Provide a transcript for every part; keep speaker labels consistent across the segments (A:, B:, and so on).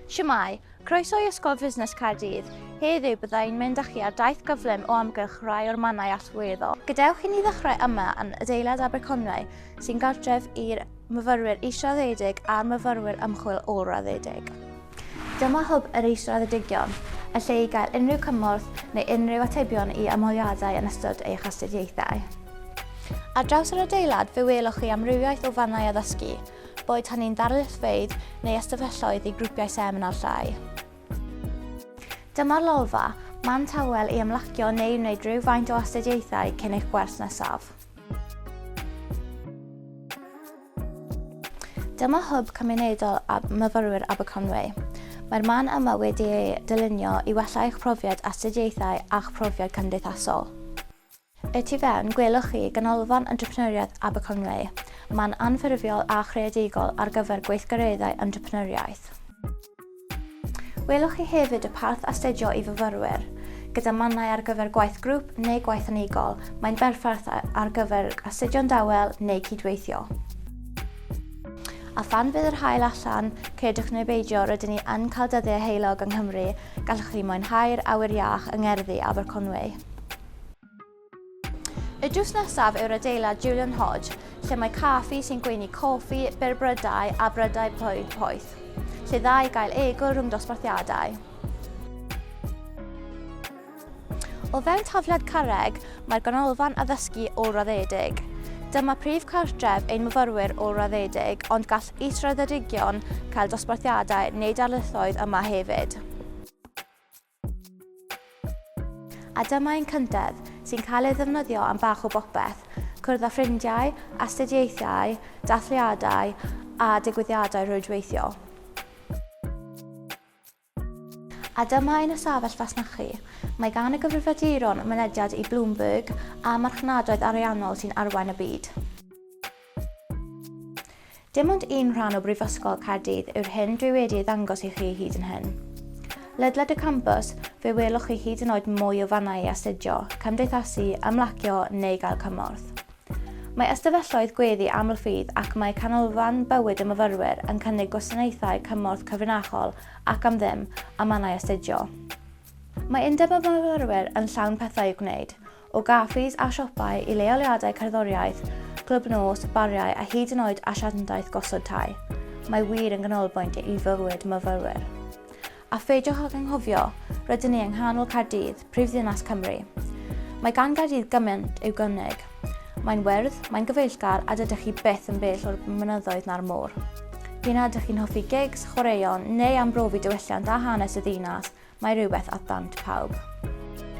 A: Siamai, croeso i Ysgol Fusnes Caerdydd. Heddiw byddai'n mynd â chi ar daith gyflym o amgylch rai o'r mannau allweddol. Gadewch i ni ddechrau yma yn adeilad Aberconwy sy'n gartref i'r myfyrwyr israddedig a'r myfyrwyr ymchwil ôl-raddedig. Dyma Hwb yr Israddedigion, y lle i gael unrhyw cymorth neu unrhyw atebion i ymholiadau yn ystod eich astudiaethau. Ar draws yr adeilad fe welwch chi amrywiaeth o fannau addysgu, boed hynny'n ddarlithfeydd neu ystafelloedd i grwpiau seminar llai. Dyma'r lolfa, man tawel i ymlacio neu wneud rhywfaint o astudiaethau cyn eich gwers nesaf. Dyma Hwb Cymunedol Myfyrwyr Aberconwy. Mae'r man yma wedi ei dylunio i wella eich profiad astudiaethau a'ch profiad cymdeithasol. Y tu fewn, gwelwch chi Ganolfan Entrepreneuriaeth Aberconwy, man anffurfiol a chreadigol ar gyfer gweithgareddau entrepreneuriaeth. Welwch chi hefyd y parth Astudio i Fyfyrwyr. Gyda mannau ar gyfer gwaith grŵp neu gwaith unigol, mae'n berffaith ar gyfer astudio'n dawel neu cydweithio. A phan fydd yr haul allan, credwch neu beidio, rydyn ni yn cael dyddiau heulog yng Nghymru, gallwch chi mwynhau'r awyr iach yng ngerddi Aberconwy. Y drws nesaf yw'r adeilad Julian Hodge, lle mae caffi sy'n gweini coffi, berbrydau a brydau plwyd poeth, lle dda i gael egwyl rhwng dosbarthiadau. O fewn tafliad carreg, mae'r ganolfan addysgu ôl-raddedig. Dyma prif cartref ein myfyrwyr ôl-raddedig, ond gall israddedigion cael dosbarthiadau neu darlithoedd yma hefyd. A dyma ein cyndedd, sy'n cael ei ddefnyddio am bach o bopeth, cwrdd â ffrindiau, astudiaethau, dathliadau a digwyddiadau rhwydweithio. A dyma ein ystafell fasnachu. Mae gan y gyfrifiaduron mynediad i Bloomberg a marchnadoedd ariannol sy'n arwain y byd. Dim ond un rhan o Brifysgol Caerdydd yw'r hyn dwi wedi ei ddangos i chi hyd yn hyn. Ledled y campus, fe welwch chi hyd yn oed mwy o fannau i astudio, cymdeithasu, ymlacio neu gael cymorth. Mae ystafelloedd gweddi amlffydd ac mae canolfan bywyd y myfyrwyr yn cynnig gwasanaethau cymorth cyfrinachol ac am ddim a mannau astudio. Mae undeb y myfyrwyr yn llawn pethau i'w gwneud, o gaffis a siopau i leoliadau cerddoriaeth, clwb nos, bariau a hyd yn oed asiantaeth gosod tai, mae wir yn ganolbwynt i fywyd myfyrwyr. A pheidiwch ag anghofio, rydyn ni yng nghanol Caerdydd, prifddinas Cymru. Mae gan Gaerdydd gymaint i'w gynnig. Mae'n wyrdd, mae'n gyfeillgar a dydych chi byth yn bell o'r mynyddoedd na'r môr. P'un a ydych chi'n hoffi gigs, chwaraeon neu am brofi diwylliant a hanes y ddinas, Mae rhywbeth at ddant pawb.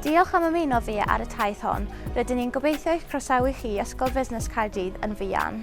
A: Diolch am ymuno fi ar y taith hon, rydyn ni'n gobeithio eich croesawu chi i Ysgol Fusnes Caerdydd yn fuan.